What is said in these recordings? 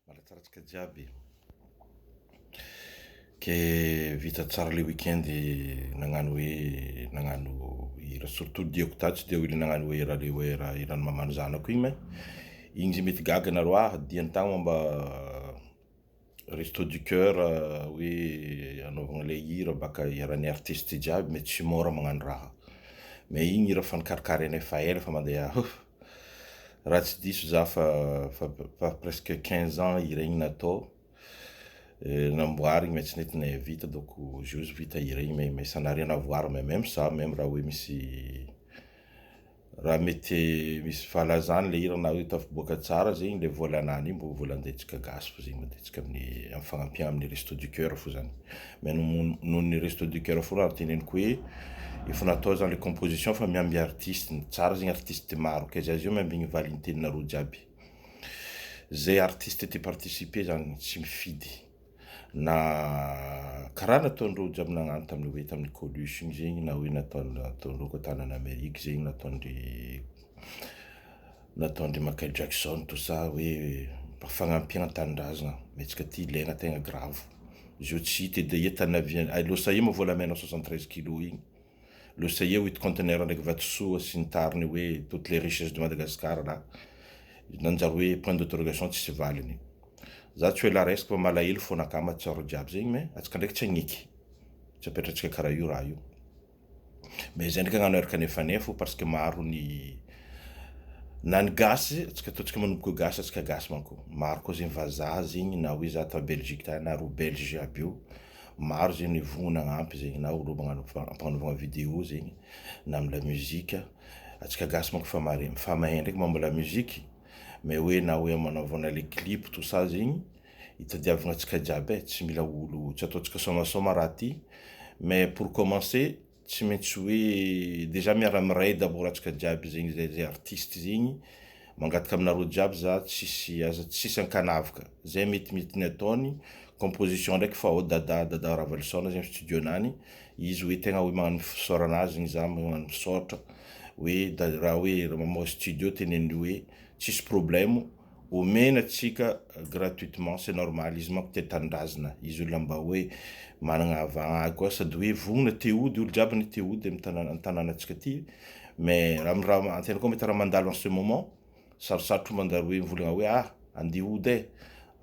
Malatsaratsaka jiaby ke vita tsara le weekend nagnano hoe nagnano hira surtout diako ta tsy de hoe le nagnano hoe hira le hoe hira hiran'ny maman'ny zanako igny ma igny zay mety gaga nareo ah diany tagny moa mba Resto du coeur hoe anaovagna ilay hira baka iharan'ny artiste jiaby mais tsy mora magnano raha. Mais igny hira fa nikarokarenay fa ela fa mandeha huff. Raha tsy diso za fa fa fa presque quinze ans hira igny natao, namboarigny mais tsy nety nahavita donc aujourd'hui vita hira igny mais mais sanareo navoara mais meme ça meme raha hoe misy Raha mety misy valazany le hira na hita fiboaka tsara zay iny le vola anany iny mbo vola andentsika gasy fa zegny mandentsika amin'ny am fagnampian amin'ny resto du coeur fo zany mais noho ny resto du coeur fo raha teneniko hoe efa natao zany le composition fa miamby artiste ny tsara zegny artiste maro kay za zao miambigny valiny teninareo jiaby zay artiste te participer zany tsy mifidy na karaha nataon'ireo jiaby nagnano tamin'ny hoe tamin'ny coluche igny zegny na hoe nataon- nataon'ireo koa tanana Amerique zegny nataondry nataondry Michael Jackson tout ça hoe mba fagnampiana tanindrazana mihetsika ty ilaina tegna grave izy io tsy hita edy e tany avy any Los Aima volamena soixante treize kilos igny. Lasa eo it conteneur ndraiky vatosoa sy ny tariny hoe toutes les richesses de Madagascar là. Nanjary hoe point d'interrogation tsisy valiny. Za tsy hoe la resiko fa malahelo fona akama tsarao jiaby zegny mais atsika ndraiky tsy agniky. Tsy apetratsika karaha io raha io. Mais zay ndraiky agnano eraka nefanefo parce que maro ny na ny gasy atsika ataontsika manomboka gasy atsika gasy manko. Maro koa zegny vazaha zegny na hoe za tao Belgique tany na ro belge jiaby io. Maro zegny vogno nagnampy zegny na olo magnano ampagnanovagna video zegny na am la musique antsika gasy manko efa mare efa mahay ndraiky momba la musique mais hoe na hoe amanaovagna le clip tout ça zegny itadiavagna antsika jiaby e tsy mila olo tsy ataontsika sômasôma raha ty mais pour commencer Tsy maintsy hoe dejà miara miray d'abord atsika jiaby zegny zay zay artiste zegny, mangataka aminareo jiaby za tsisy aza tsisy ankanavaka, zay mety mety ny ataony, composition ndraiky fa ao Dada Dada Ravalisaona zegny studio nany, izy hoe tegna hoe magnano ny fisaorana azy zegny za magnano misaotra, hoe raha hoe mamoaka studio teneno hoe tsisy problème, Omena tsika gratuitement c'est normal izy manko tia tanindrazana izy olona mba hoe managna avagna koa sady hoe vognona te hody olo jiaby anie te hody am tanana am tanana tsika ty mais raha am raha antena koa mety raha mandalo en ce moment sarosarotro ny manjary hoe mivolagna hoe ah andeha hody eh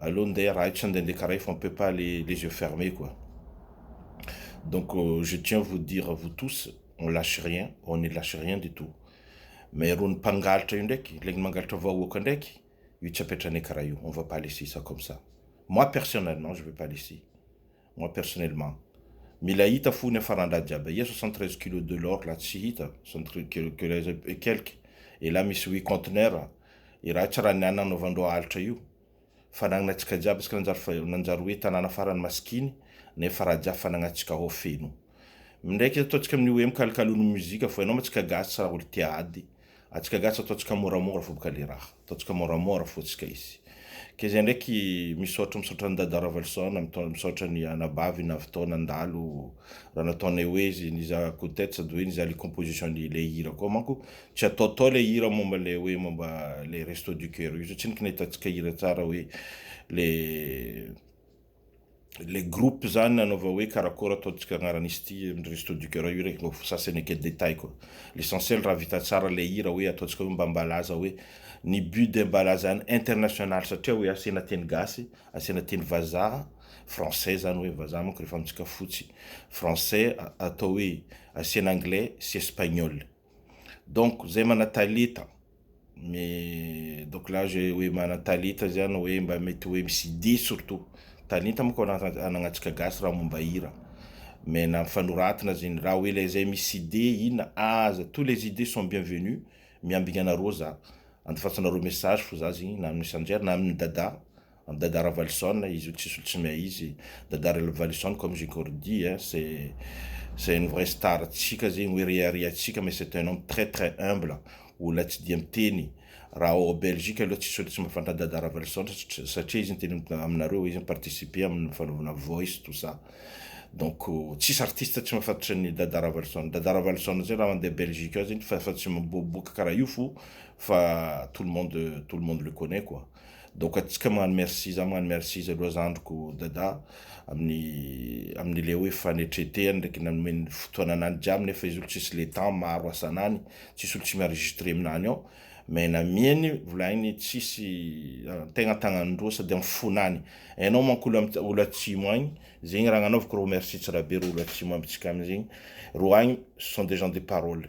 aleo ndeha raha eto sa ndeha ndeha karaha io fa on peut pas aller les yeux fermes quoi donc je tiens vous dire à vous tous on lache rien on ne lache rien du tout. Mais rony mpangaltra io ndraiky, legny mangalatra vahoaka ndraiky, io tsy apetrahanay karaha io, on va pas laisser ça comme ça. Moi personnellement, je vais pas laisser. Moi personnellement. Mila hita fo ny hafaran-draha jiaby aia 73 kilos de l'or la tsy hita, 73 kilos et quelques, et la misy huit conteneurs, i raha tsy raha ny ananaovan-droa alitra io. Fanagnana antsika jiaby isika nanjary nanjary hoe tanàna farany masikiny nefa Rajah fanagna antsika hao feno mindraika ataontsika amin'ny hoe mikalokalon'ny mozika fo ianao ma tsika gasy tsy raha olo tia ady antsika gasy ataontsika moramora fo boka le raha ataontsika moramora fo tsika izy ke zay ndraiky misaotra misaotra an'i Dada Ravalison mitaona misaotra ny anabavy navitao nandalo raha nataonay hoe izy ny za coutette sady hoe ny za le composition ny le hira koa manko Tsy ataotao ilay hira momba ilay hoe momba ilay resto du coeur io satria ny kina hitantsika hira tsara hoe le le groupe zany nanaova hoe karakôry ataontsika agnaran'izy ity amin'ny resto du coeur io rek mba sasany ake détail koa l'essentiel raha vita tsara ilay hira hoe ataontsika hoe mba mbalaza hoe ny but de mbalaza any international satria hoe asiana teny gasy asiana teny vazaha français zany hoe vazaha manko rehefa amintsika fotsy français atao hoe asiana anglais sy espagnol Donc zay mana taleta me donc la je hoe mana taleta zay ana hoe mba mety hoe misy dihy surtout talenta moko ananantsika gasy raha momba hira mais na fanoratana zegny raha hoe le zay misy idée ina aza tous les idées sont bienvenues miambigna anareo za andefasanareo message fo za zegny na amin'ny Sanjery na amin'ny Dada Am Dada Ravalison izy io tsisy tsy mea izy Dada Ravalison comme j'ai encore dit hein c'est c'est une vraie star tsika zegny hoe reharehatsika mais c'est un homme très très humble olona tsy dia miteny raha ao Belgique aloha tsisy olona tsy mahafantatra an Dada Ravalison satria izy niteny aminareo hoe izy mi-participer amin'ny fanaovana voice tout ça donc tsisy artiste tsy mahafantatra an'i Dada Ravalison Dada Ravalison zegny raha mandeha Belgique ao zegny fa fa tsy miboaboaka karaha io fo fa tout le monde tout le monde le connait quoi donc atsika magnano merci za magnano merci izy aloha zandriko dada amin'ny amin'ny le hoe fanetretehany ndraiky nanomeny fotoana anany jiaby nefa izy olo tsisy le temps maro asanany tsisy olo tsy mienregistre aminany ao mais namiany volaigny tsisy ah, tegna tagnany roa sady amin'ny fonany enao manko olo am- olo atsimo agny zegny raha nanovako ro merci tsirabe ro olo atsimo amintsika amin'izegny ro agny ce sont des gens de parole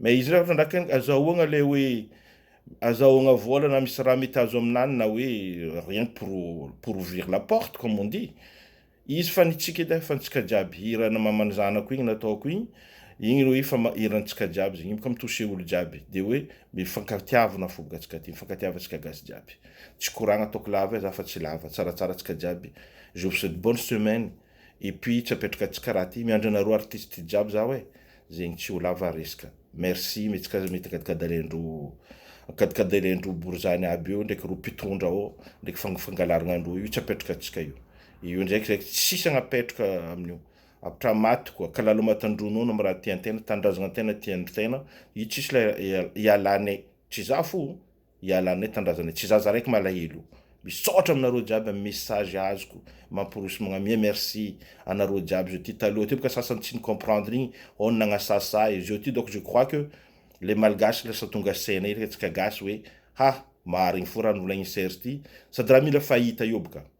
Mais izy refa trandrakainy aza ahoagna le hoe aza ahoagna vola na misy raha mety azo aminany na hoe rien que pour pour ouvrir la porte comme on dit izy fa ny tsika edy fa ny tsika jiaby hira na maman'ny zanako igny nataoko igny igny le hoe fa ma hiran'ny tsika jiaby zegny igny ka mi-toucher olo jiaby de hoe mifankatiavana fo boka tsika ty mifankatiavantsika gasy jiaby tsy koragna ataoko lava e za fa tsy lava tsaratsara tsika jiaby je vous souhaite bonne semaine. Et puis tsy apetraka tsy karaha ty, miandry anareo artistes jiaby zaho eh, zegny tsy ho lava resaka. Merci mety ka mety akadikadailendro akadikadailendro borizany aby io ndraiky ro mpitondra ao ndraiky fang fangalaragnan-droa io tsy apetraka antsika io. Io ndraiky zay tsisy agnapetraka amin'io. Apetraha maty koa, kalalo maty an-dronono am raha tian-tegna, tanindrazagnan-tegna tian-tegna, io tsisy lay ialane, tsy za fo o! Ialà aminay tanindrazanay tsy zaza raiky malahelo Misaotra aminareo jiaby am message azoko mampirosy magnamia merci anareo jiaby zao ty taloha teo bka sasany tsy ni comprendre igny hon nagnasasa ahy zao ty donc je crois que le malgache lasa tonga saina iraky antsika gasy hoe ha marigny fo raha novolagnin'i serge ty sady raha mila fahita eo bka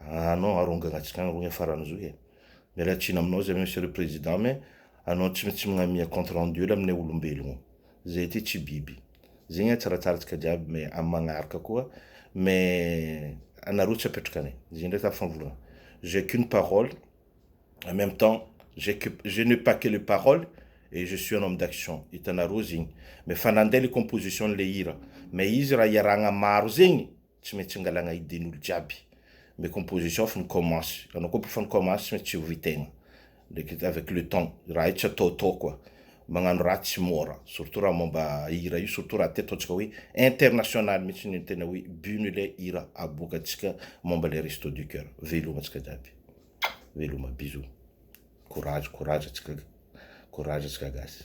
Ah non arongagna atsika agny rogny ah farany zo eh! Miala tsiny aminao zay Monsieur le Président mais anao tsy maintsy mignamia compte rendu ela aminay olombelogno. Zay aty tsy biby. Zegny ah tsaratsara tsika jiaby mais am magnaraka koa mais anareo tsy apetraka anay. Zay ndraiky ah famvolagna. J'ai qu'une parole en même temps j'ai que je n'ai pas que les paroles et je suis un homme d'action hitanareo zegny. Mais fa nande le composition le hira mais izy raha iarahagna maro zegny. tsy maintsy angalagna idén'olo jiaby mais composition efa nikomansy anao koa efa nikomansy tsy maintsy tsiory tegna ndraiky avec le temps raha io tsy ataotao koa magnano raha tsy môra surtout raha mômba hira io surtout raha ty ataontsika hoe international mihitsy ny tena hoe but ny le hira aboakantsika mômba le resto du coeur veloma antsika jiaby veloma bisous courage courage antsika courage antsika gasy